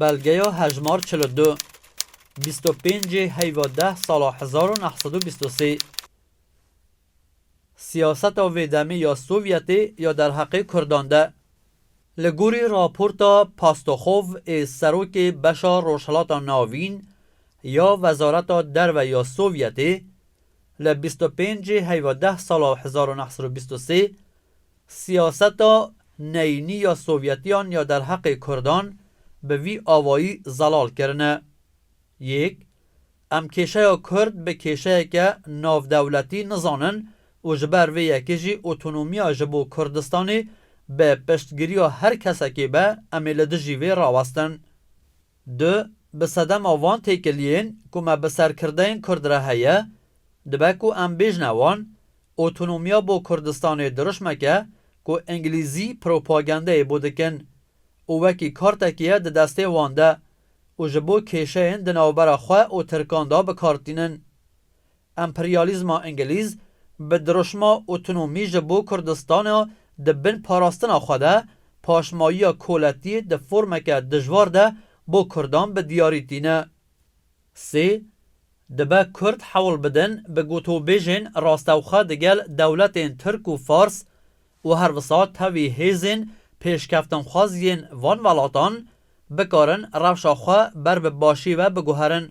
Belgeya hejmar çil û du. Bîst û pêncê heyva deh sala hezar û neh sed û bîst û sê. Siyaseta vê demê ya Sovyetê ya derheqê Kurdan de. Li gorî raporta Pastoxov ê serokê beşa Rojhilata Navîn ya Wezareta Derve ya Sovyetê, li bîst û pêncê heyva deh sala hezar û neh sed û bîst û sê, Siyaseta neyînî ya Sovyetiyan ya derheqê Kurdan bi vî awayî zelal kirine. Yek, em kêşeya Kurd bi kêşeyeke navdewletî nizanin û ji ber vê yekê jî otonomiya ji bo Kurdistanê bi piştgiriya her kesekê be em ê li dijî vê rawestin. Du, Bi sedema van têkiliyên ku me bi ser kirdeyên kurd re heye, dibe ku em bêjne wan, Otonomiya bo Kurdistanê dirişmek e ku Îngilîzî propagandeyê bo dikin û wekî kartekî ye di destê wan de û ji bo kêşeyên di navbera xwe û Tirkan de bikar tînin. Emperyalîzma Îngilîz bi dirûşma otonomî ji bo Kurdistana di bin parastina xwe de, paşmayiya koletiyê di formeke dijwar de bo Kurdan bi diyarî tîne. Sê, dibe Kurd hewl bidin bi gotûbêjên rastewxwe digel dewletên Tirk û Fars û her wisa tevî hêzên pêşkeftinxwaz yên van welatan bikarin rewşa xwe ber bi başî ve biguherin.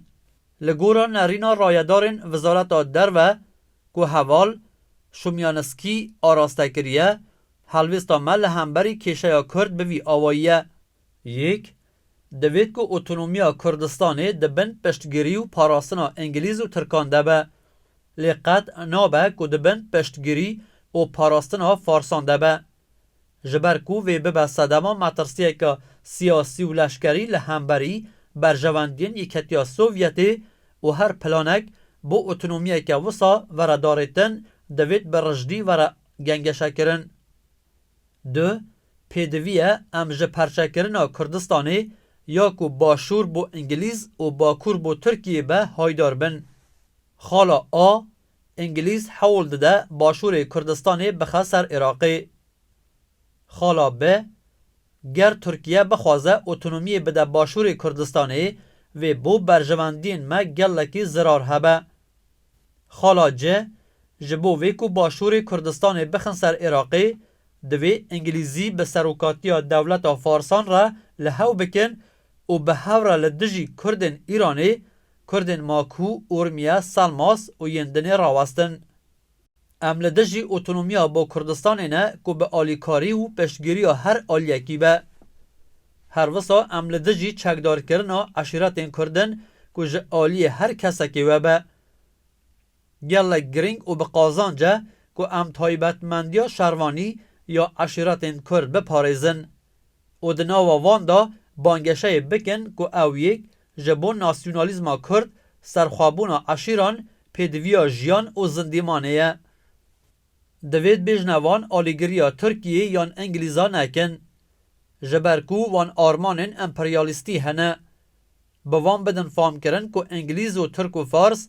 Li gora nerîna rayedarên Wizareta Derve ku heval Şumyanskî araste kiriye, helwêsta me li hemberî kêşeya Kurd bi vî awayî ye, Yek, divêt ku otonomiya Kurdistanê di bin piştgirî û parastina Îngilîz û Tirkan de be. Lê qet nabe ku di bin piştgirî û parastina Farsan de be. Ji ber ku vê bibe sedema metirsiyeke siyasî û leşkerî li hemberî berjewendiyên Yekîtiya Sovyetê û her planek bo otonomiyeke wisa were darêtin divêt bi rijdî were gengeşekirin. Du, pêdivî ye em ji perçekirina Kurdistanê ya ku Başûr bo Îngilîz û Bakur bo Tirkiyê be haydar bin. Xala A, Îngilîz hewl dide başûrê Kurdistanê bixe ser Iraqê. Xala bi, Ger Tirkiye bixwaze otonomiyê bide başûrê Kurdistanê, vê bo berjewendiyên me gelekî zirar hebe. Xala ci, Ji bo vê ku başûrê Kurdistanê bixin ser Iraqê, divê Îngilîzî bi serokatiya dewleta Farsan re li hew bikin û bi hevra li dijî Kurdên Îranê, Kurdên Maku, Urmiye, Salmas û yên dinê rawestin. Em li dijî otonomiya bo Kurdistanê ne ku bi alîkarî û piştgiriya her aliyekî be. Her wisa em li dijî çekdarkirina eşîretên Kurd in ku ji aliyê her kesekê we be. Gelek girîng û bi qazanc e ku em taybetmendiya şervanî ya eşîretên Kurd biparêzin û di nava van de bangeşeyê bikin ku ew yek ji bo nasyonalîzma Kurd, serxwebûna eşîran, pêdiviya jiyan û zindîmanê ye. Divê di bêjina van alîgiriya Tirkiyê yan Ingilîza nekin. Ji ber ku van armanên emperyalîstî hene. bi wan bidin famkirin ku Îngilîz û Tirk û Fars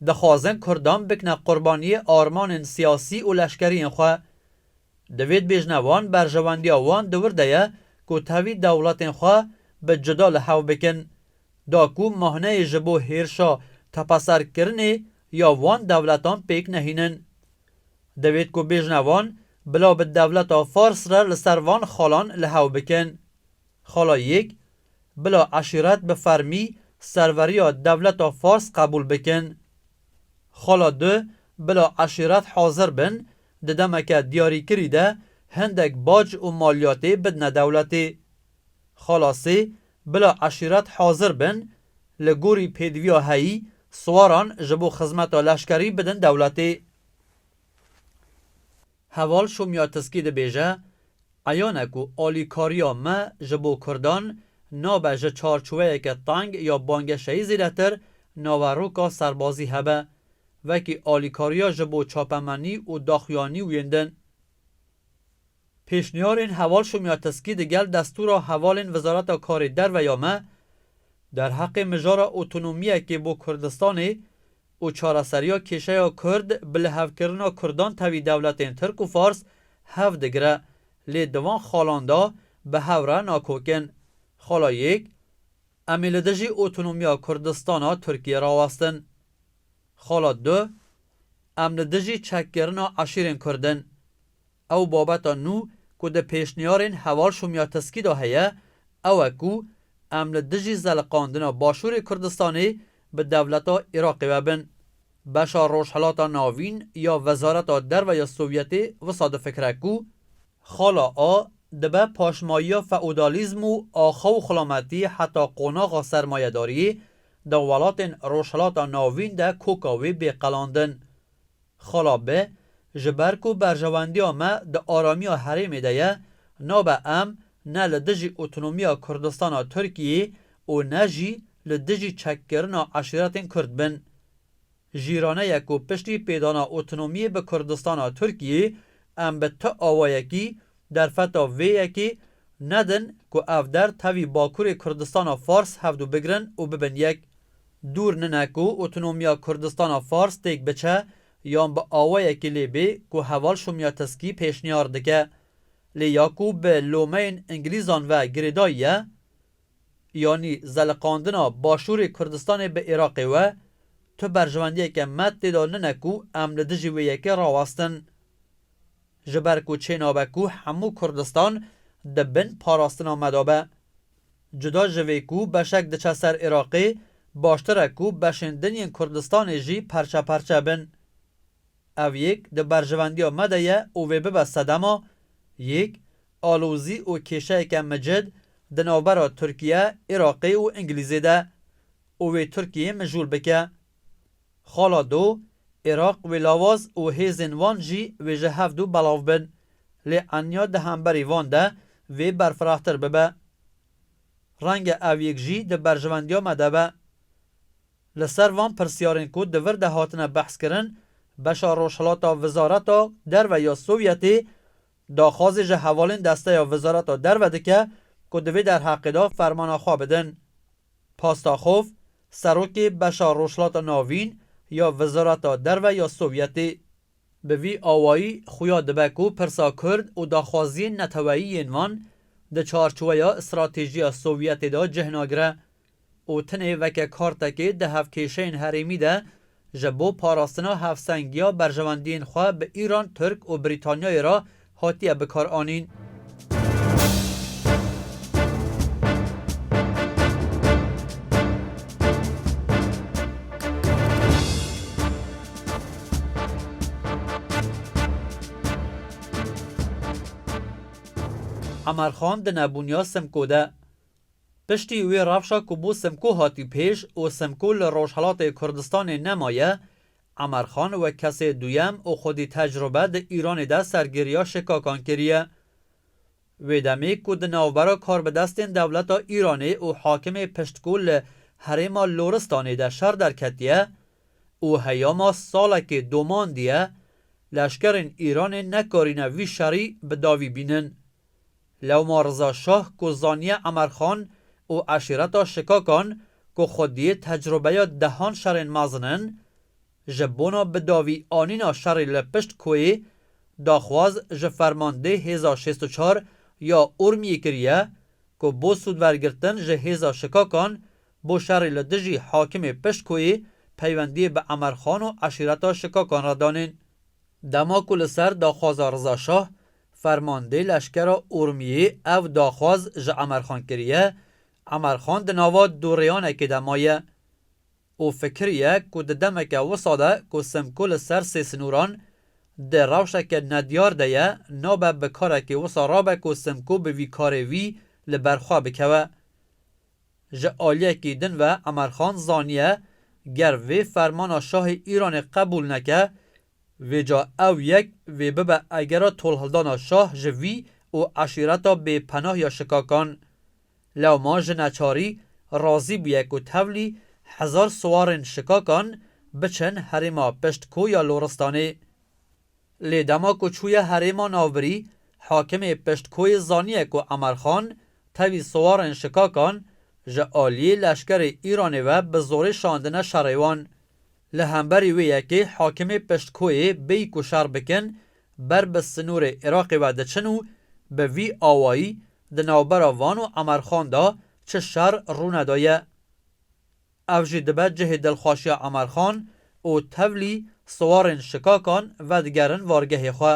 dixwazin Kurdan bikne qurbaniyê armanên siyasî û leşkeriyên xwe. Divê dibêjne wan berjewendiya wan di wir de ye ku tevî dewletên xwe bi cuda li hev bikin. Da ku mahneyê ji bo hêrşa tepeserkirinê ya wan dewletan pêk nehînin. Divêt ku bêjne wan bila bi dewleta Fars re li ser van xalan li hev bikin. Xala yek, Bila eşîret bi fermî serveriya dewleta Fars qebûl bikin. Xala du, Bila eşîret hazir bin di demeke diyarîkirî de hindek bac û maliyatê bidine dewletê. Xala sê, Bila eşîret hazir bin li gorî pêdiviya heyî siwaran ji bo xizmeta leşkerî bidin dewletê. Heval Şomyatiskî dibêje, Eyane ku alîkariya me ji bo kurdan nabe ji çarçoweyeke teng ya bangeşeyî zêdetir naveroka serbazî hebe, wekî alîkariya ji bo çapemenî û daxuyanî û yên din. Pêşniyarên Heval Şomyatiskî di gel destûra hevalên Wizareta Karê Derve ya me, derheqê mijara otonomiyekê bo Kurdistanê û çareseriya kêşeya Kurd bi lihevkirina Kurdan tevî dewletên Tirk û Fars hev digire, lê di van xalan de bi hev re nakokin. Xala yek, Em ê li dijî otonomiya Kurdistana Tirkiyê rawestin. Xala du, Em li dijî çekkirina eşîrên Kurd in. Ew babeta nû ku di pêşniyarên Heval Şomyatskiy de heye, ew e ku em li dijî zeliqandina Başûrê Kurdistanê bi dewleta Iraqê ve bin. Beşa Rojhilata Navîn ya Wezareta Derve ya Sovyetê wisa difikire ku, Xala A dibe paşmayiya feodalîzm û axa û xulametî heta qonaxa sermayedariyê di welatên Rojhilata Navîn de koka wê bê qelandin. Xala B, Ji ber ku berjewendiya me di aramiya herêmê de ye, nabe em ne li dijî otonomiya Kurdistana Tirkiyeyê û ne jî li dijî çekkirina eşîretên Kurd bin. Jîraneye ku piştî pêdana otonomiyê bi Kurdistana Tirkiyeyê em bi ti awayekî derfeta vê yekê nedin ku ev der tevî Bakurê Kurdistana Fars hevdu bigirin û bibin yek. Dûr nine ku otonomiya Kurdistana Fars têk biçe yan bi awayekî lê bê ku heval Şomyateskî pêşniyar dike. Lê ya ku bi lomeyên Ingilîzan ve girêdayî ye yanî zeliqandina Başûrê Kurdistanê bi Iraqê we, tu berjewendiyeke me tê de nine ku em li dijî wê yekê rawestin. Ji ber ku çênabe ku hemû Kurdistan di bin parastina me de be. Cuda ji vê ku beşek diçe ser Iraqê, baştir e ku beşên din yên Kurdistanê jî perçe perçe bin. Ev yek di berjivendiya me de ye û vê bibe sedema yek alozî û kêşeyeke micid di navbera Tirkiye, Iraqê û Îngilîzê de û wê Tirkiyeyê mijûl bike. Xala do, Iraq wê lawaz û hêzên wan jî wê ji hev du belav bin. Lê enya di hemberî van de vê berfirahtir bibe. Renge ev yek jî di berjewendiya me de be. Li ser van pirsiyarên ku di vir de hatine behskirin, beşa rojhilata Wizareta Derve ya Sovyetê daxwazê ji hevalên desteya Wizareta Derve dike ku di vê derheqê de fermana xwe bidin. Pastaxov, serokê beşa Rojhilata Navîn ya Wezareta Derve ya Sovyetê, bi vî awayî xuya dibe ku pirsa kurd û daxwaziyên neteweyî yên van di çarçoweya stratêjiya Sovyetê de cih nagire û tenê weke kartekê di hevkêşeyên herêmî de Ji bo parastina hevsengiya berjewendiyên xwe bi Îran, Tirk û Brîtanyayê re hatiye bikaranîn. Emer Xan di nebûniya Simko de. Piştî wê rewşa ku bo Simko hatî pêş û Simko li Rojhelatê Kurdistanê nemaye, Emerxan wek kesê duyem û xwedî tecrube di Îranê de sergiriya şikakan kiriye. Wê demê ku di navbera karbidestên dewleta Îranê û hakimê piştgû li herêma Loristanê de şer derketiye û heyama salekê domandiye, leşkerên Îranê nekarîne vî şerî bi davî bînin. Lewma Riza Şah ku zaniye Emerxan û eşîreta Şikakan ku xwedî tecrubeya dehan şerên mezin in, ji bona bidawî anîna şerê li pişt koyê, daxwaz ji fermandeyê hêza şêst û çar ya Urmiyê kiriye ku bo sûdwergirtin ji hêza Şikakan bo şerê li dijî hakimê pişt koyê peywendiyê bi Emerxan û eşîreta Şikakan re danên. Dema ku li ser daxwaza Riza Şah Fermandê leşkera Urmiyê ev daxwaz ji Emerxan kiriye, Emerxan di nava du rêyanekê de maye û fikiriye ku di demeke wisa de ku Simko li ser sê sinûran di rewşeke nediyar de ye nabe bi karekî wisa re be ku Simko bi vî karê wî li ber xwe bikeve. Ji aliyekî din ve Emerxan zaniye ger vê fermana şahê Îranê qebûl neke Vêca ew yek vê bibe egera tolhildana şah ji vî û eşîreta bê penah ya şikakan. Lewma ji neçarî razî bûye ku tevlî hezar siwarên şikakan biçin herêma pişt ko ya Loristanê. Lê dema ku çûye herêma navbirî hakimê pişt koyê zaniye ku Emerxan tevî siwarên şikakan ji aliyê leşkerê Îranê ve bi zorê şandine şerê wan. Li hemberî wê yekê hakimê piştkoyê bêyî ku şer bikin, ber bi sinûrê Iraqê ve diçin û bi vî awayî di navbera van û Emerxan de çi şer rûnedaye. Ev jî dibe cihê dilxweşiya Emerxan û tevlî siwarên şikakan vedigerin vargehê xwe.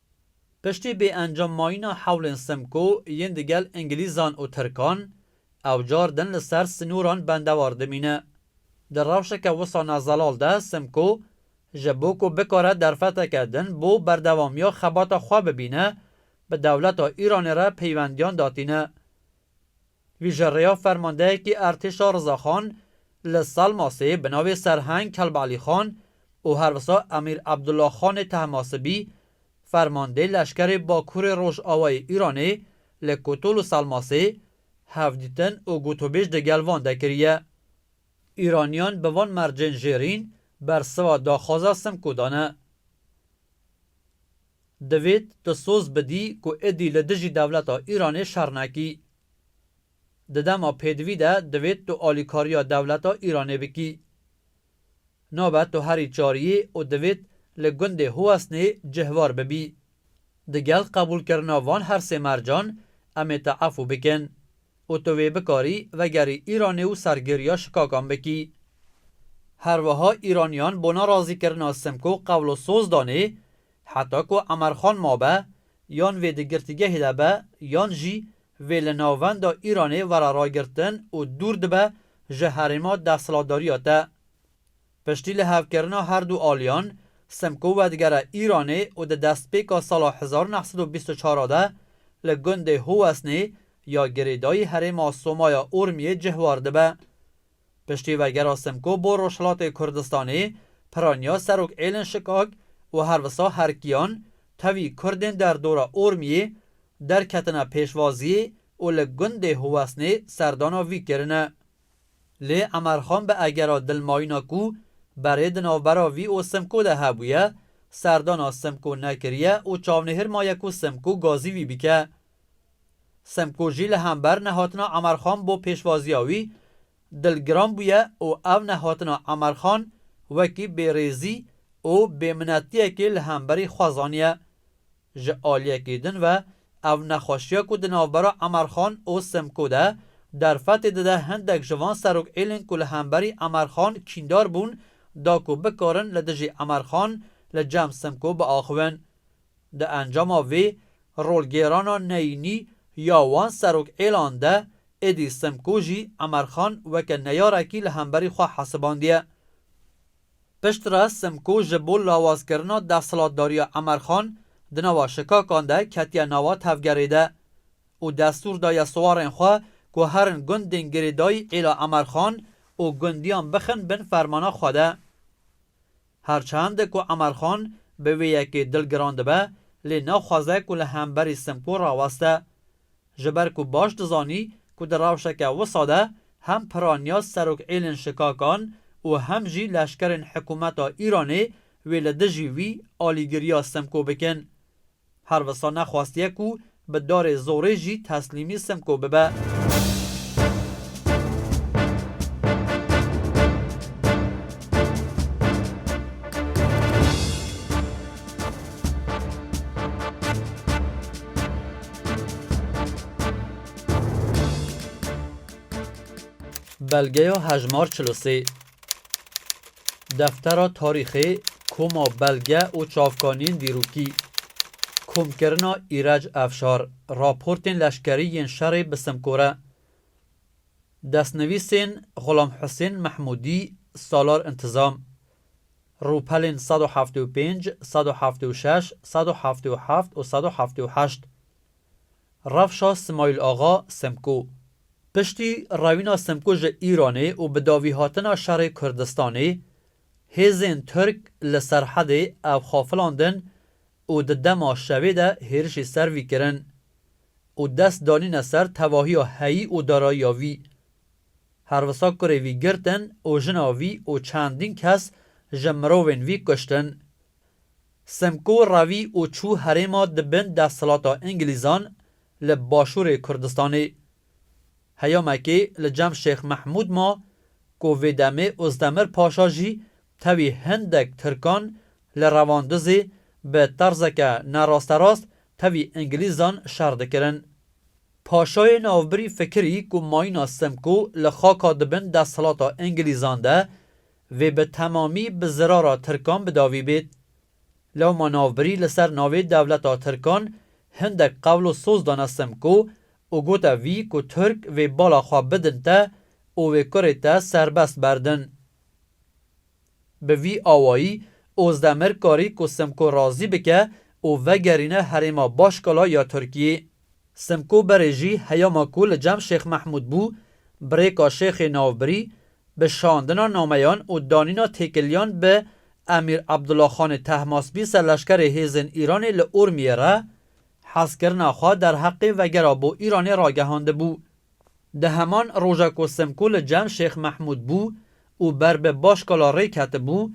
Piştî bêencam mayîna hewlên Simko yên di gel Îngilîzan û Tirkan, ew car din li ser sinûran bendewar dimîne. Di rewşeke wisa ne zelal de Simko ji bo ku bikare derfeteke din bo berdewamiya xebata xwe bibîne, bi dewleta Îranê re peywendîyan datîne. Vî ji rêya fermandeyekî Ertêşa Rizaxan li Salmasê bi navê Serheng Kelbalîxan û her wisa Emîr Ebdulaxanê Tehmasibî fermandê leşkerê Bakurê Rojavayê Îranê li Kotol û Salmasê hevdîtin û gotûbêj di gel van de kiriye. Îranîyan bi van mercên jêrîn bersiva daxwaza Simko dane. Divêt tu soz bidî ku êdî li dijî dewleta Îranê şer nekî. Di dema pêdivî de divêt tu alîkariya dewleta Îranê bikî. Nabe tu herî çar yî û divêt li gundê Huwesnê cihvar bibî. Digel qebûlkirina van her sê mercan, em ê te efû bikin. Û tu wê bikarî vegerî Îranê û sergêriya şikakan bikî. Herweha Îraniyan bona razîkirina Simko qewlo soz danê heta ku Emerxan mabe yan vê di girtîgehê de be yan jî vê li navenda Îranê were ragirtin û dûr dibe ji herêma desthilatdariya te. Piştî lihevkirina her du aliyan, Simko vedigere Îranê û di destpêka sala hezar û neh sed û bîst û çar a de li gundê Howesnê ya girêdayî herêma Somaya Urmiyê cihwar dibe. Piştî vegera Simko bo Rojhilatê Kurdistanê, piraniya Serok Êlin Şikak û her wisa herkiyan tevî Kurdên derdora Urmiyê derketine pêşvaziyê û li gundê Howesnê serdana vî kirine. Lê Emerxan bi egera dilmayîna ku berê di navbera vî û Simko de hebûye, serdana Simko nekiriye û çavnihir maye ku Simko gazî wî bike. Simko jî li hember nehatina Emerxan bo pêşvaziya wî dilgiran bûye û ev nehatina Emerxan wekî bêrêzî û bêminetiyekê li hemberî xwe zaniye. Ji aliyekî din ve ev nexweşiya ku di navbera Emerxan û Simko de derfetê dide hindek ji van serokêlên ku li hemberî Emerxan kîndar bûn da ku bikarin li dijî Emerxan li cem Simko biaxivin. Di encama vê rolgêrana neyînî ya wan serokêlan de êdî Simko jî Emerxan weke neyarekî li hemberî xwe hesibandiye. Piştre Simko ji bo lawazkirina desthilatdariya Emer Xan di nava şikakan de ketiye nava tevgerê de û destûr daye siwarên xwe ku herin gundên girêdayî êla Emer Xan û gundiyan bixin bin fermana xwe de. Her çend ku Emer Xan bi wê yekê dilgiran dibe lê naxwaze ku li hemberî Simko raweste Ji ber ku baş dizanî ku di rewşeke wisa de hem piraniya serok êlên şikakan û hem jî leşkerên hikûmeta Îranê wê li dijî wî alîgiriya Simko bikin. Her wisa nexwastiye ku bi darê zorê jî teslîmî Simko bibe. Belgeya hejmar çil û sê. Deftera tarîxê koma belge û çavkaniyên dîrokî. Komkirina Îrec Efşar raportên leşkerî yên şerê bi Simkore. Destnivîsên Xulam Husên Mehmûdî Salar Intizam. Rûpelên sed û heftê û pênc, sed û heftê û şeş, sed û heftê û heft û sed û heftê û heşt Rewşa Simayîl Axa, Simko Piştî rewîna Simko ji Îranê û bi davihatina şerê Kurdistanê, hêzên Tirk li serhedê ev xwe filandin û di dema şevê de hêrişî ser vî kirin û dest danîne ser tevahiya heyî û darayiya vî Her wisa kurê vî girtin û jina vî û çendîn kes ji mirovên vî kuştin. Simko revî û çû herêma di bin desthilata Îngilîzan li başûrê Kurdistanê. Heyamekê li cem Şêx Mehmûd ma ku vê demê Ozdemir Paşa jî tevî hindek Tirkan li Revandizê bi terzeke nerasterast tevî Îngilîzan şer dikirin. Paşayê navbirî fikirî ku mayîna Simko li xaka di bin desthilata Îngilîzan de vê bi temamî bi zirara Tirkan bi davî bêt. Lewma navbirî li ser navê dewleta Tirkan hindek qewl û soz dane Simko û gote vî ku Tirk vê bala xwe bidin te û wê kurê te serbest berdin. Bi vî awayî Ozdemir karî ku Simko razî bike û vegerîne herêma Başkala ya Tirkiyê. Simko Berê jî heyama ku li cem Şêx Mehmûd bû, bi rêka Şêxê Navbirî, bi şandina nameyan û danîna têkiliyan bi Emîr Abdullah Xanê Tehmaspî serleşkerê hêzên Îranê li Urmiyê re, hezkirina xwe derheqê vegera bo Îranê ragehandibû. Di heman roja ku Simko li cem Şêx Mehmûd bû û ber bi Başkala rê ketibû,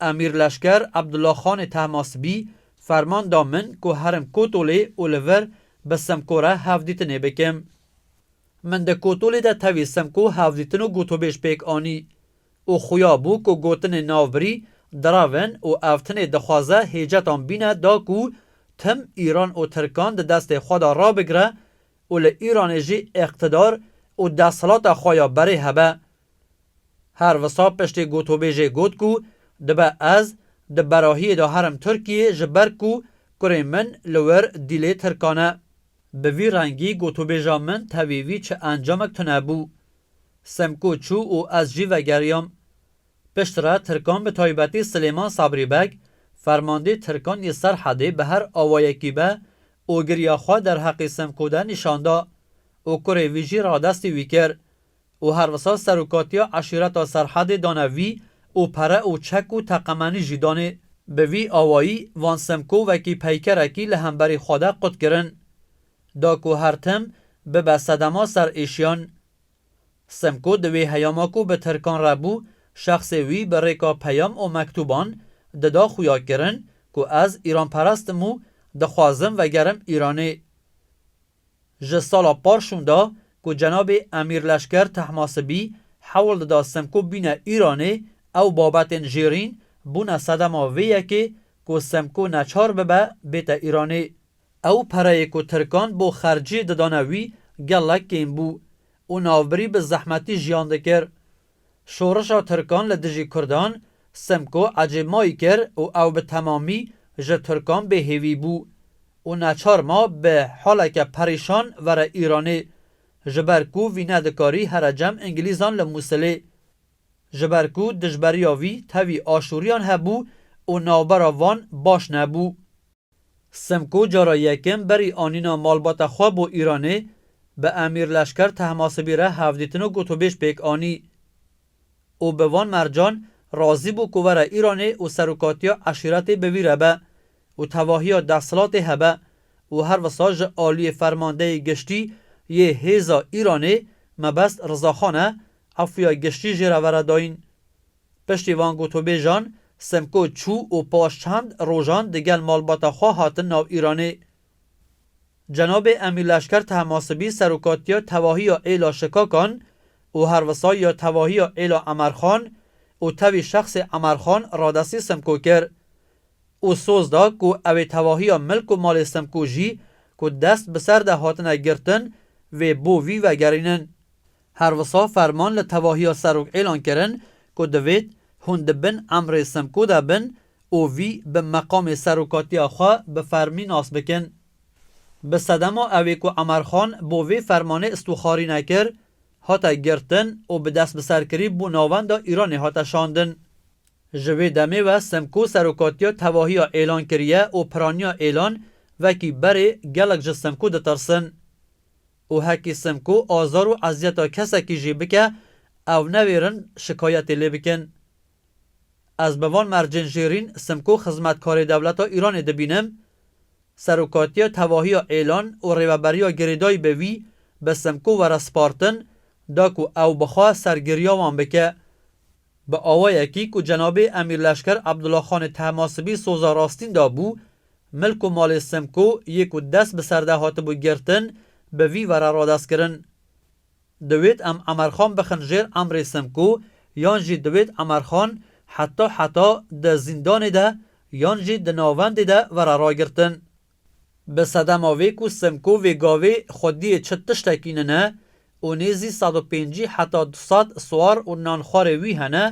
Emîr Leşker Abdullah Xanê Tehmasibî ferman da min ku herim Kotolê û li vir bi Simko re hevdîtinê bikim. Min di Kotolê de tevî Simko hevdîtin û gotûbêj pêk anî û xuya bû ku gotinên navbirî dirav in û ev tinê dixwaze hêcetan bîne da ku tim Îran û Tirkan di destê xwe de rabigire û li Îranê jî îqtidar û desthilata xwe ya berê hebe. Her wisa piştî gotûbêjê got ku dibe ez di berahiyê de herim Tirkiyeyê ji ber ku kurê min li wir dîlê Tirkan e. Bi vî rengî gotûbêja min tevî vî çi encamek tune bû. Simko çû û ez jî vegeriyam. Piştre Tirkan bi taybetî Silêman Sabrî Beg, fermandê Tirkan yê Serhedê bi her awayekî be ogiriya xwe derheqî Simko de nîşan da û kurê vî jî radestî wî kir. û her wisa serokatiya eşîreta Serhedê dane vî û pere û çek û teqemenî jî danê. Bi vî awayî van Simko wekî peykerekî li hemberî xwe de qut kirin. Da ku her tim bibe sedema ser êşiyan. Simko di wê heyama ku bi tirkan re bû, şexsê wî bi rêka peyam û mektûban dida xuya kirin ku ez îranperest im û dixwazim vegerim Îranê. Ji sala par şûnda ku cenabê Emîr Leşker Tehmasibî hewl dida Semko bîne Îranê, ew babetên jêrîn bûne sedema vê yekê ku Semko neçar bibe bête Îranê. Ew pereyê ku Tirkan bo xercî didane wî gelek kêm bû û navbirî bi zehmetî jiyan dikir. Şorişa Tirkan li dijî Kurdan, Simko ecê mayî kir û ew bi temamî ji Tirkan bê hêvî bû û neçar ma bi haleke perîşan vere Îranê ji ber ku vî nedikarî here cem Îngilîzan li Mûsilê. Ji ber ku dijberiya vî tevî aşûriyan hebû û navbera van baş nebû. Simko cara yekem berî anîna malbata xwe bo Îranê bi Emîr Leşker Tehmasibî re hevdîtin û gotûbêj pêk anî. Û bi van mercan razî bû ku were Îranê û serokatiya eşîretê bi vî re be û tevahiya desthilatê hebe û her wisa ji aliyê Fermandeyê Giştî yê Hêza Îranê Mebest Rizaxan e efûya giştî jê re vere dayîn. Piştî van gotûbêjan, Simko çû û paş çend rojan digel malbata xwe hatin nav Îranê. Cenabê Emîr Leşker Tehmasibî serokatiya tevahiya êla Şikakan û herwisa ya tevahiya êla Emerxan û tevî şexsê Emerxan radestî Simko kir û soz da ku ew ê tevahiya milk û malê Simko jî ku dest bi ser de hatine girtin vê bo vî vegerînin. Her wisa ferman li tevahiya Serok êlan kirin ku divêt hûn di bin emrê Simko de bin û vî bi meqamê serokatiya xwe bi fermî nas bikin. Bi sedema ewê ku Emerxan bo vê fermanê istûxarî nekir, hate girtin û bi destbiserkirî bo navenda Îranê hate şandin. Ji wê demê ve Simko serokatiya tevahiya êlan kiriye û piraniya êlan vekî berê gelek ji Simko ditirsin. Û hekî Simko azar û eziyeta kesekî jî bike ew newêrin şikayetê lê bikin. Ez bi van mercên jêrîn Simko xizmetkarê dewleta Îranê dibînim. Serokatiya tevahiya Êlan û rêveberiya girêdayî bi wî bi Simko were spartin da ku ew bixwe ser giriya wan bike. Bi awayekî ku cenabê Emîr Leşker Abdulaxanê Tehmasibî soza rastîn dabû, milk û malê Simko yê ku dest bi ser de hatibû girtin bi vî ve re radest kirin. Diwêt em Emerxan bixin jêr emrê Simko yan jî diwêt Emerxan heta heta di zîndanê de yan jî di navendê de vera ragirtin. Bi sedema vê ku Simko vê gavê xwediyê çi tiştekî nine û nêzî sed û pêncî heta du sed siwar û nanxwarê wî hene,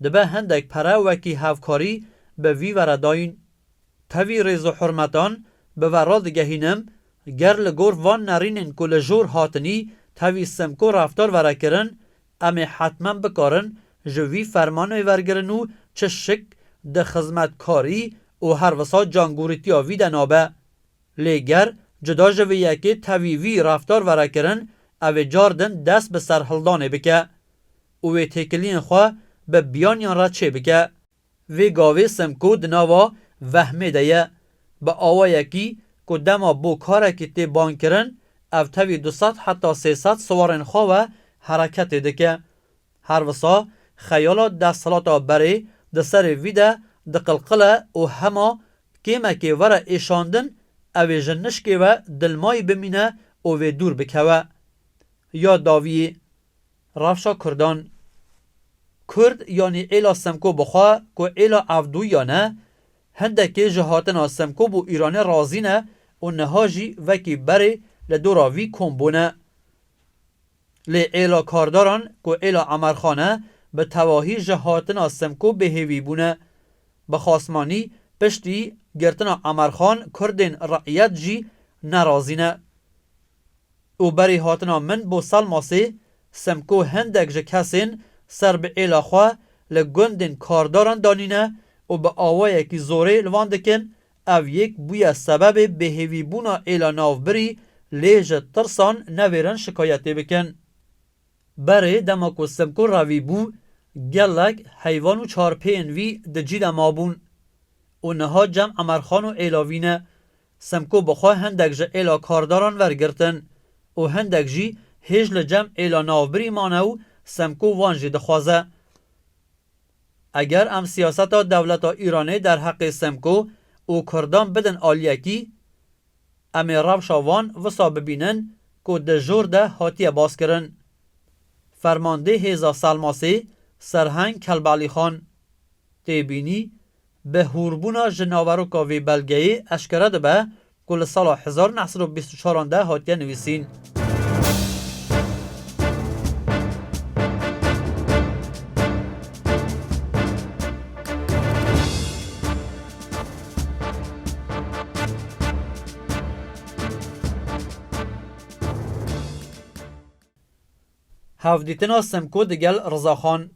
dibe hindek pere wekî hevkarî bi vî ve re dayîn. Tevî rêz û hurmetan bi ve radigehînim, ger li gor van nerînên ku li jor hatinî tevî Simko reftar vere kirin, Em ê hetmen bikarin ji wî fermanê wergirin û çi şik di xizmetkarî û her wisa cangûrîtiya wî de nabe. Lê ger cuda ji vê yekê tevî wî refdar were kirin, ew ê car din dest bi serhildanê bike û wê têkiliyên xwe bi biyaniyan re çêbike. Vê gavê Simko di nava vehmê de ye. Bi awayekî ku dema bo karekî tê bang kirin, ev tevî du sed heta sê sed siwarên xwe we hereketê dike. Her wisa xeyala desthilata berê di serê vî de diqilqile û hema kêmekê were êşandin ew ê ji nişkê we dilmayî bimîne û vê dûr bikewe. Ya dawiyê. Rewşa Kurdan Kurd yanî êla Semko bixwe ku êla Evdûya ne, hindekê ji hatina Semko bo Îranê razî ne û niha jî vekî berê li dora vî kom bûne. Lê êla Kardaran ku êla Emerxan e bi tevahî ji hatina Semko bêhêvî bûne. Bi xasmanî piştî girtina Emerxan Kurdên re'yet jî nerazî ne. Û berî hatina min bo Selmasî, Semko hendek ji kesên ser bi êla xwe li gundên kardaran danîne û bi awayekî zorê li van dikin, ev yek bûye sebebê bêhêvîbûna êla navbirî lê ji tirsan nevêrin şikayetê bikin. Berê dema ku Semko revî bû, gelek heyvan û çarpêyên vî di cî de mabûn. Û niha cem Emerxan û êla vî ne. Semko bi xwe hindek ji êla kardaran wergirtin û hindek jî hêj li cem êla navbirî mane û Semko wan jî dixwaze. Eger em siyaseta dewleta Îranê derheqê Semko û kurdan bidin aliyekî, em ê rewşa wan wisa bibînin ku di jor de hatiye baskirin. Fermandê hêza Selmasê, Serheng Kelbalîxan, tê bînî Bi hûrbûna ji naveroka vê belgeyê eşkere dibe ku li sala hezar û neh sed û bîst û çaran de hatiye nivîsîn. Hevdîtina Simko digel Rizaxan.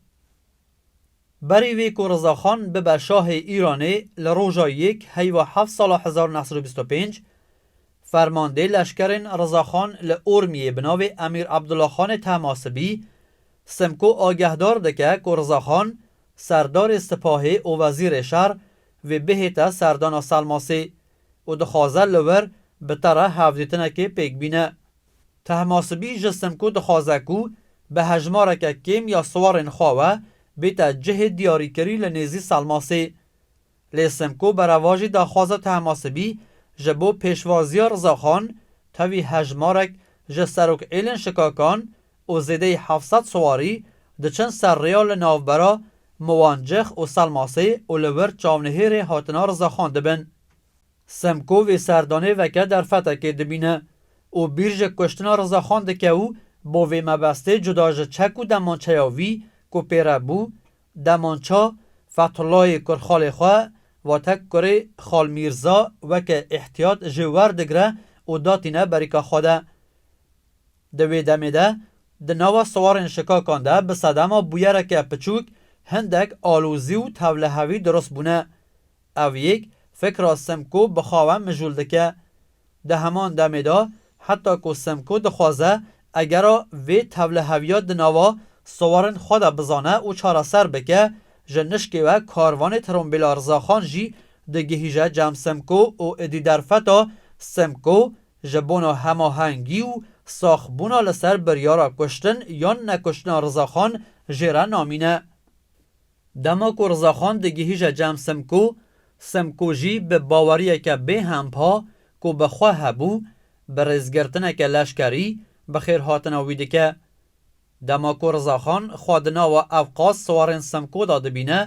Berî vê ku Rizaxan bibe şahê Îranê li roja yek heyva heft sala hezar neh sed û bîst û pênc, fermandê leşkerên Rizaxan li Urmiyê bi navê Emîr Abdulaxanê Tehmasibî, Simko agehdar dike ku Rizaxan, serdarê sipahê û wezîrê şer vê bihête serdana Selmasê û dixwaze li wir bi te re hevdîtinekê pêk bîne. Tehmasibî ji Simko dixwaze ku bi hejmareke kêm ya siwarên xwe we bête cihê diyarîkirî li nêzî Selmasê. Lê Simko berevajî daxwaza Tehmasibî ji bo pêşwaziya Rizaxan tevî hejmarek ji serokêlên şikakan û zêdeyî heft sed siwarî diçin ser rêya li navbera Miwancix û Selmasê û li wir çavnihêrê hatina Rizaxan dibin. Semko vê serdanê veke derfetekê dibîne û bîr ji kuştina Rizaxan dike û bo vê mebestê cuda ji çek û demançeya wî ku pê re bû, demança Fethullahê kurxalê xwe vate kurê Xal Mîrza weke îhtiyat jê werdigre û da tîne berîka xwe de. Di wê demê de di nava siwarên şikakan de bi sedema bûyereke piçûk hindek alozî û tevlihevî dirust bûne. Ev yek fikra Simko bi xwe ve mijûl dike. Di heman demê de heta ku Simko dixwaze egera vê tevliheviya di nava sowarên xwe de bizane û çareser bike, ji nişkê ve karvanê Tirombîla Rizaxan jî digihîje cem Simko û êdî derfeta Simko ji bona hemahengî û saxbûna li ser biryara kuştin yan nekuştina Rizaxan jê re namîne. Dema ku Rizaxan digihîje cem Simko, Simko jî bi baweriyeke bê hempa ku bi xwe hebû, bi rêzgirtineke leşkerî bi xêrhatina wî dike. Dema ku Rizaxan xwe di nava evqas siwarên Simko de dibîne,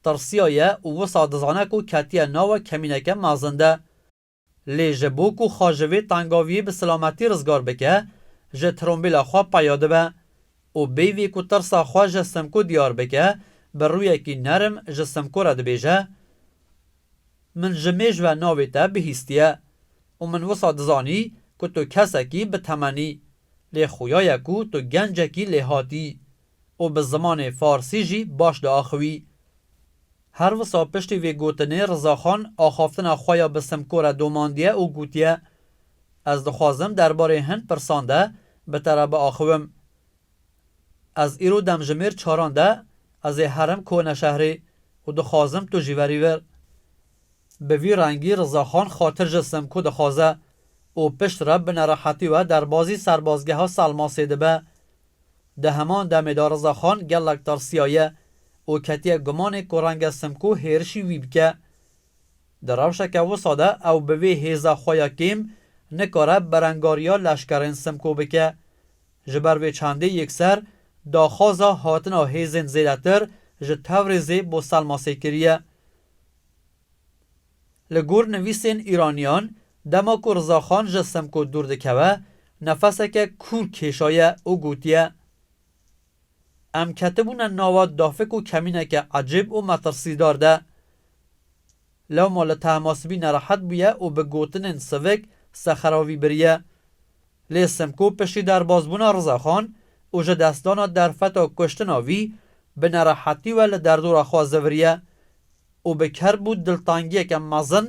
tirsiyaye û wisa dizane ku ketiye nava kemîneke mezin de. Lê ji bo ku xwe ji vê tengaviyê bi silametî rizgar bike, ji trombîla xwe peya dibe û peyvê ku tirsa xwe ji Simko diyar bike, bi rûyekî nerm ji Simko re dibêje, Min ji mêj ve navê te bihîstiye û min wisa dizanî ku tu kesekî bi temen î, lê xuya ye ku tu gencekî lêhatî û bi zimanê farsî jî baş diaxiwî. Her wisa piştî vê gotinê Rizaxan axaftina xwe ya bi Simkore domandiye û gotiye, Ez dixwazim derbarê hin pirsan de bi te re biaxiwim. Ez îro demjimêr çaran de ez ê herim Koneşehrê û dixwazim tu jî verî vir. Bi vî rengî Rizaxan xatir ji Simko dixwaze û piştre bi nerehetî we derbazî serbazgeha Selmasê dibe Di heman demê de Rizaxan gelek tirsiyaye û ketiye gumanê ku renge Simko hêrişî wî bike. Di rewşeke wisa de ew bi vê hêza xwe ya kêm nikare berengariya leşkerên Simko bike. Ji ber vê çandê yekser daxwaza hatina hêzên zêdetir ji Tewrêzê bo Selmasê kiriye. Li gor nivîsên Îraniyan, dema ku Rizaxan ji Semko dûr dikeve, nefeseke kûr kêşaye û gotiye, Em ketibûne nava dafik û kemîneke ecêb û metirsîdar de. Lewma li tehmasibî nerehet bûye û bi gotinên sivik sexeravî biriye. Lê Simko piştî derbazbûna Rizaxan û ji destdana derfeta kuştina wî bi nerehetî we li derdora xwe ziviriye û bi kerbû diltangiyeke mezin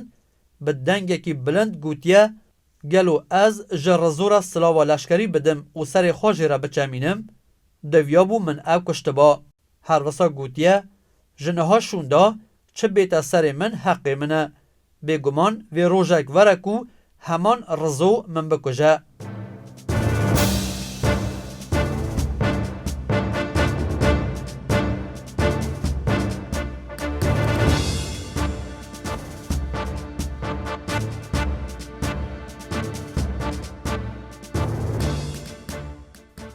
bi dengekî bilind gotiye, Gelo ez ji Rizo re silava leşkerî bidim û serê xwe jê re biçemînim? Divyabû min ew kuştiba. Her wisa gotiye, Ji niha şûnda çi bête serê min heqê min e. Bêguman vê rojek were ku heman Rizo min bikuje.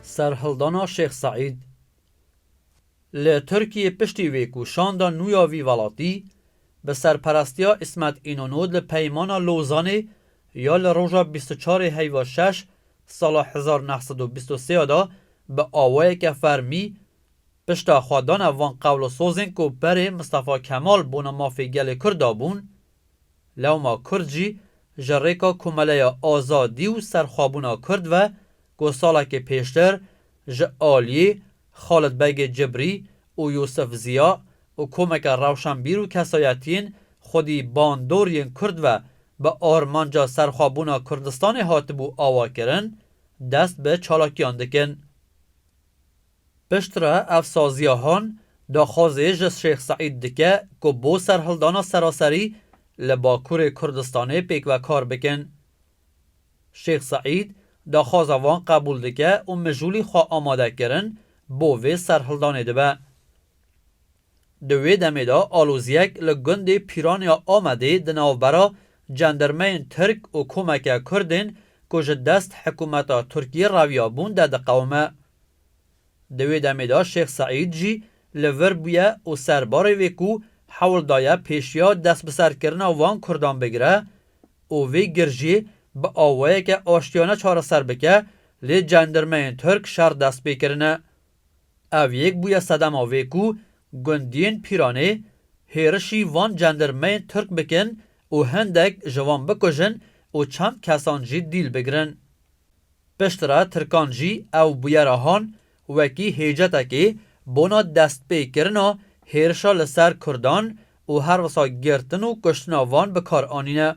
Serhildana Şêx Seîd. Li Tirkiyê piştî vê ku şanda nû ya vî welatî bi serperestiya Îsmet Înonû di Peymana Lozanê ya li roja bîst û çar ê heyva şeş sala hezar û neh sed û bîst û sê ya de bi awayeke fermî pişta xwe dane van qewlosozên ku berê Mistefa Kemal bona mafê gelê Kurd dabûn, Lewma Kurd jî ji rêka komeleya azadî û serxwebûna Kurd ve ku salekê pêştir ji aliyê Xalid Begê Cibrî û Yûsif Ziya û komeke rewşenbîr û kesayetiyên xwedî bandor yên Kurd ve bi armanca serxwebûna Kurdistanê hatibû awakirin, dest bi çalakiyan dikin. Piştre ev saziya han daxwazê ji Şêx Seîd dike ku bo serhildana seraserî li Bakurê Kurdistanê pêkve kar bikin. Şêx Seîd daxwaza wan qebûl dike û mijûlî xwe amade kirin bo vê serhildanê dibe. Di wê demê de aloziyek li gundê Pîran ya Amedê di navbera cendirmeyên Tirk û komeke Kurdên ku ji dest hikûmeta Tirkiyê reviyabûn de diqewime. Di wê demê de Şêx Seîd jî li vir bûye û serbarê vê ku hewl daye pêşiya destbiserkirina van kurdan bigire û vê girjiyê bi awayeke aştiyane çareser bike lê cendirmeyên tirk şer dest pê kirine. Ev yek bûye sedema vê ku gundiyên Pîranê hêrişî van cendirmeyên tirk bikin û hindek ji wan bikujin û çend kesan jî dîl bigrin. Piştre Tirkan jî ew bûyera Han wekî hêcetekê bona destpêkirina hêrişa li ser Kurdan û her wisa girtin û kuştina van bi kar anîne.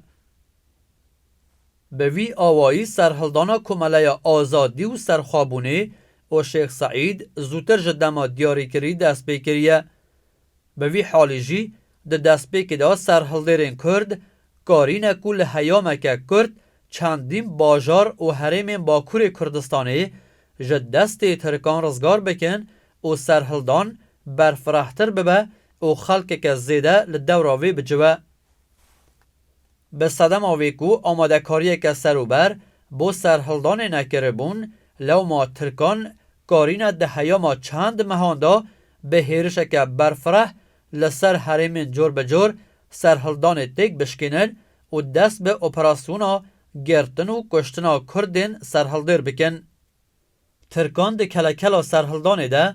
Bi vî awayî serhildana Komeleya Azadî û Serxwebûnê û Şêx Seîd zûtir ji dema diyarîkirî destpêkiriye. Bi vî halî jî di destpêkê de serhildêrên Kurd karîne ku li heyameke kurt çendîn bajar û herêmên Bakurê Kurdistanê ji destê Tirkan rizgar bikin û serhildan berfirehtir bibe û xelkeke zêde li dewra wê bicive. Bi sedema wê ku amadekariyeke serûber bo serhildanê nekiribûn, lewma Tirkan karîne di heyama çend mehan de bi hêrişeke berfireh li ser herêmên cor bi cor serhildanê têk bişkînin û dest bi operasyona girtin û kuştina Kurdên serhildêr bikin. Tirkan di kelekela serhildanê de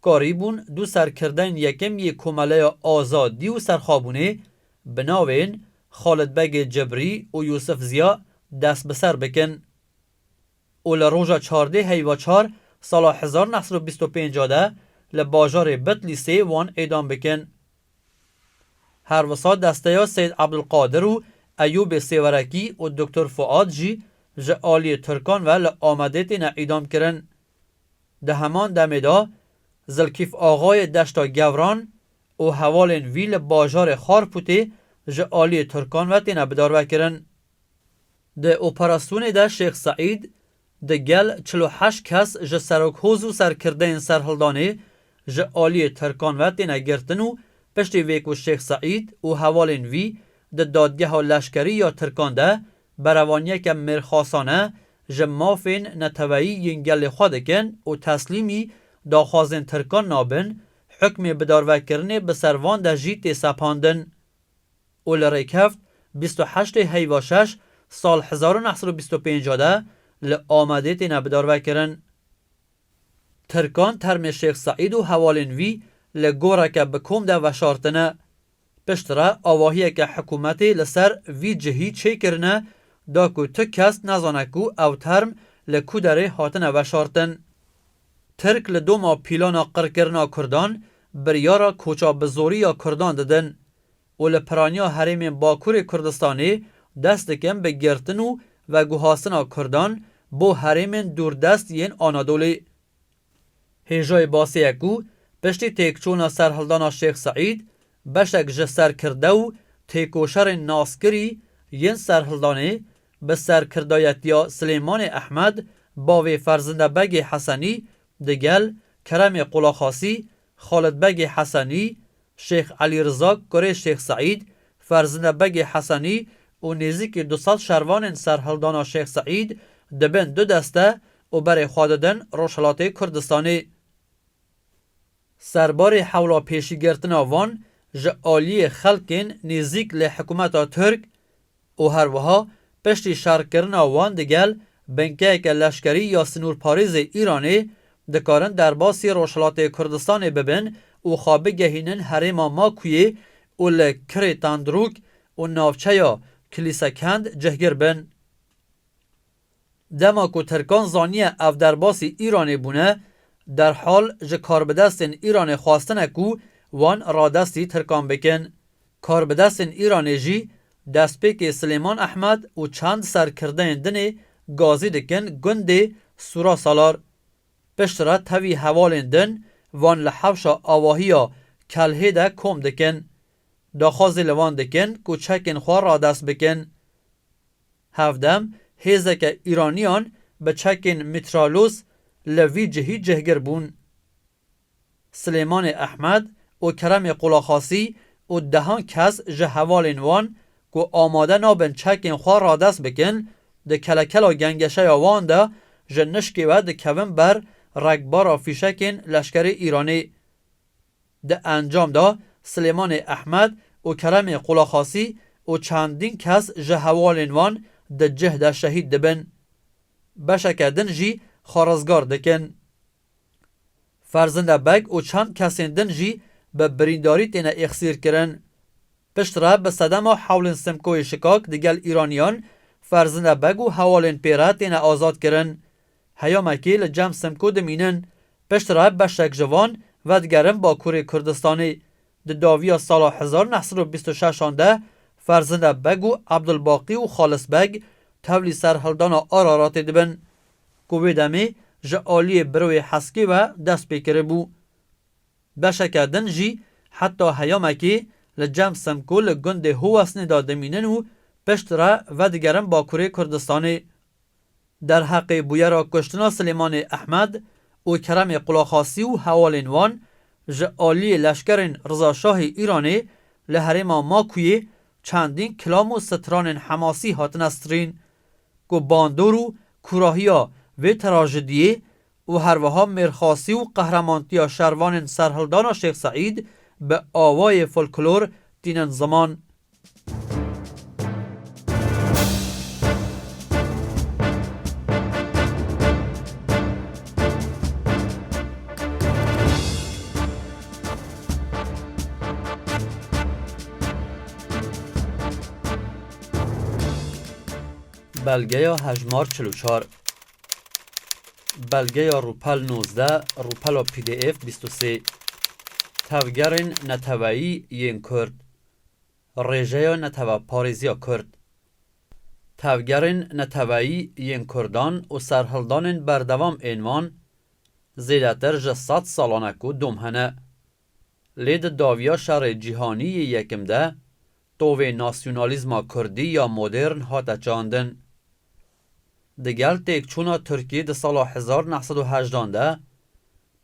karî bûn du serkirdeyên yekem yê Komeleya Azadî û Serxwebûnê bi navên Xalid Begê Cibrî û Yûsif Ziya dest bi ser bikin û li roja çardê heyva çar sala hezar neh sed û bîst û pênc de li bajarê Bitlîsê wan îdam bikin. Her wisa desteya Seyîd Ebdulqadir û Eyûbê Sêwerekî û Doktor Fuad jî ji aliyê Tirkan ve li Amedê têne îdamkirin. Di heman demê de Zilkîf Axayê Deşta Gewran û hevalên wî li bajarê Xarpûtê ji aliyê Tirkan ve têne bidarvekirin. Di operasyonê de Şêx Seîd Di gel çil û heşt kes ji Serokhoz û serkirdeyên serhildanê ji aliyê Tirkan ve têne girtin û piştî vê ku Şêx Seîd û hevalên wî di dadgeha leşkerî ya Tirkan de berevaniyeke mêrxasane ji mafên neteweyî yên gelê xwe dikin û teslîmî daxwazên Tirkan nabin, hukmê bidarvekirinê bi ser van de jî tê sepandin. û li rêkevt bîst û heştê heyva şeş sal hezar û neh sed û bîst û pênc de li Amedê têne bidarvekirin. Tirkan termê Şêx Seîd û hevalên wî li goreke bi kom de veşartine. Piştre avahiyeke hikûmetê li ser vî cihî çêkirine da ku tu kes nezane ku ew term li ku derê hatine veşartin. Tirk li doma pîlana qirkirina kurdan biryara koça bi zorî ya kurdan didin û li piraniya herêmên Bakurê Kurdistanê dest dikin bi girtin û veguhastina Kurdan bo herêmên dûrdest yên Anadolê. Hêjoyê basê ye ku piştî têkçûna serhildana Şêx Seîd, beşek ji serkirde û têkoşerên naskirî yên serhildanê bi serkirdayetiya Silêmanê Ehmed, bavê Ferzinde Begê Hesenî digel Keremê Qulaxasî, Xalid Begê Hesenî, Şêx Elî Riza, kurê Şêx Seîd, Ferzine Begê Hesenî û nêzîkî du sed şervanên ser hildana Şêx Seîd di bin du deste û berê xwe didin Rojhilatê Kurdistanê. Ser barê hewla pêşîgirtina van ji aliyê xelkên nêzîk li hikûmeta Tirk, û her wiha piştî şerkirina wan digel binkeyeke leşkerî ya sinûrparêzê Îranê, dikarin derbasî Rojhilatê Kurdistanê bibin û xwe bigehînin herêma Makuyê û li Kirê Tendrûk û navçeya Kilîsekend cihgir bin. Dema ku Tirkan zaniye ev derbasî Îranê bûne, derhal ji karbidestên Îranê xwestine ku wan radestî Tirkan bikin. Karbidestên Îranê jî destpêkê Silêman Ehmed û çend serkirdeyên dinê gazî dikin gundê Sûra Salar. Piştre tevî hevalên din van li hewşa avahî ya Kelhê de kom dikin. Daxwazê li wan dikin ku çekên xwe radest bikin. Hevdem, hêzeke Îraniyan bi çekên mîtralos li vî cihî cihgir bûn. Silêmanê Ehmed û Keremê Qulaxasî û dehan kes ji hevalên wan ku amade nabin çekên xwe radest bikin, di kelekela gengeşeya wan de ji nişkê ve dikevin ber rekbara fîşekên leşkerê Îranê. Di encam de Silêmanê Ehmed û Keremê Qulaxasî û çendîn kes ji hevalên wan di cih de şehîd dibin. Beşeke din jî xwe rizgar dikin. Ferzinde Beg û çend kesên din jî bi birîndarî têne êxsîrkirin. Piştre bi sedema hewlên Simkoyê Şikak digel Îraniyan Ferzinde Beg û hevalên pê re têne azadkirin. Heyamekî li Cem Simkû dimînin. Piştre beşek ji wan vedigerin Bakurê Kurdistanê. Di dawiya sala hezar û neh sed û bîst û şeş an de Ferzinde Beg û Ebdulbaqî û Xalis Beg tevlî serhildana Araratê dibin ku wê demê ji aliyê Birowê Heskê ve dest pê kiribû. Beşeke din jî heta heyamekî li Cem Simkû li gundê Huwesnê de dimînin û piştre vedigerin Bakurê Kurdistanê. Derheqê bûyera kuştina Silêmanê Ehmed û Keremê Qulaxasî û hevalên wan, ji aliyê leşkerên Rizaşahê Îranê li herêma Makûyê çendîn kilam û stranên Hemasî hatine stirîn ku bandor û kûrahiya vê trajidiyê û herwiha mêrxasî û qehremantiya şervanên serhildana Şêx Seîd bi awayê folklor tînin ziman. Belgeya hejmar çil û çar Belgeya rûpel nozdeh Rûpela pdf bîst û sê Tevgerên neteweyî yên Kurd Rêjeya Neteweparêziya Kurd, tevgerên neteweyî yên Kurdan û serhildanên berdewam ên wan zêdetir ji sed salan e ku dom hene. Lê di dawiya Şerê Cîhanî yê Yekim de tovê nasyonalîzma kurdî ya modern hate çandin. Digel têkçûna Tirkî di sala hezar neh sed û hejdan de,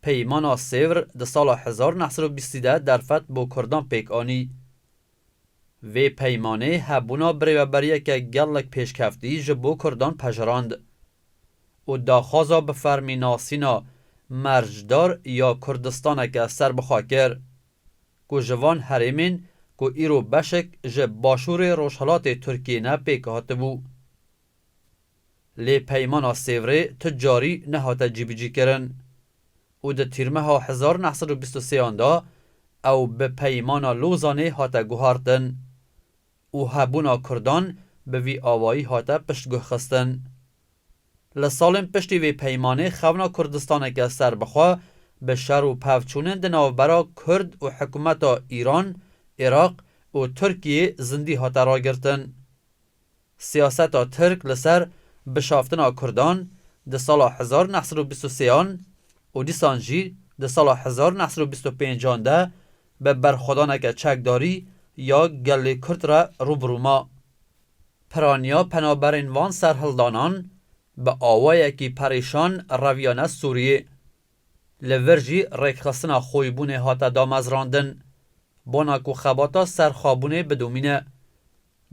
Peymana Sêvr di sala hezar neh sed û bîstî de derfet bo kurdan pêk anî. Vê peymanê hebûna birêveberiyeke gelek pêşkeftî ji bo kurdan pejirand û daxwaza bi fermî nasîna mercdar ya Kurdistaneke serbixwe kir. ku ji van herêmên ku îro beşek ji başûrê rojhilatê Tirkiyê ne pêk hatibû. Lê peymana Sêvrê tu carî nehate cîbicîkirin û di tîrmeha hezar neh sed û bîst û sêyan de ew bi peymana Lozanê hate guhartin û hebûna Kurdan bi vî awayî hate piştguhxistin. Li salên piştî vê peymanê xewna Kurdistaneke serbixwe bi şer û pevçûnên di navbera Kurd û hikûmeta Îran, Iraq û Tirkiyê zindî hate ragirtin. Siyaseta Tirk li ser bişaftina Kurdan di sala hezar neh sed û bîst û sêan û dîsan jî di sala hezar neh sed û bîst û pêncan de bi berxwedaneke çekdarî ya gelê Kurd re rû bi rû ma. Piraniya penaberên van serhildanan bi awayekî perêşan reviyane Sûriyê. Li vir jî rêkxistina xoybûnê hate damezrandin, bona ku xebata serxwebûnê bidomîne.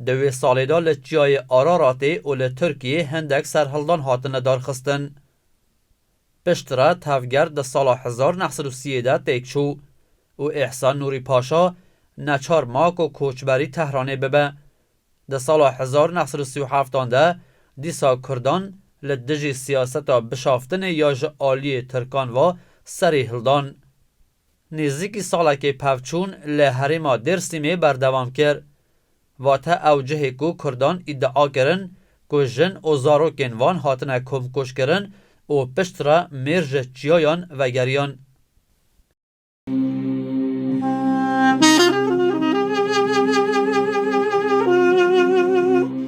Di wê salê de li Çiyayê Araratê û li Tirkiyê hendek serhildan hatin lidarxistin. Piştre tevger di sala hezar neh sed û sî yê de têk çû û Îhsan Nûrî Paşa neçar ma ku koçberî Tehranê bibe. Di sala hezar neh sed û sî û heftan de dîsa kurdan li dijî siyaseta bişaftinê ya ji aliyê tirkan ve serî hildan. Nêzîkî salekê pevçûn li herêma Dêrsimê berdewam kir. Vate ew cihê ku Kurdan îdia kirin ku jin û zarokên wan hatine komkujkirin û pişt re mêr ji çiyayan vegeriyan.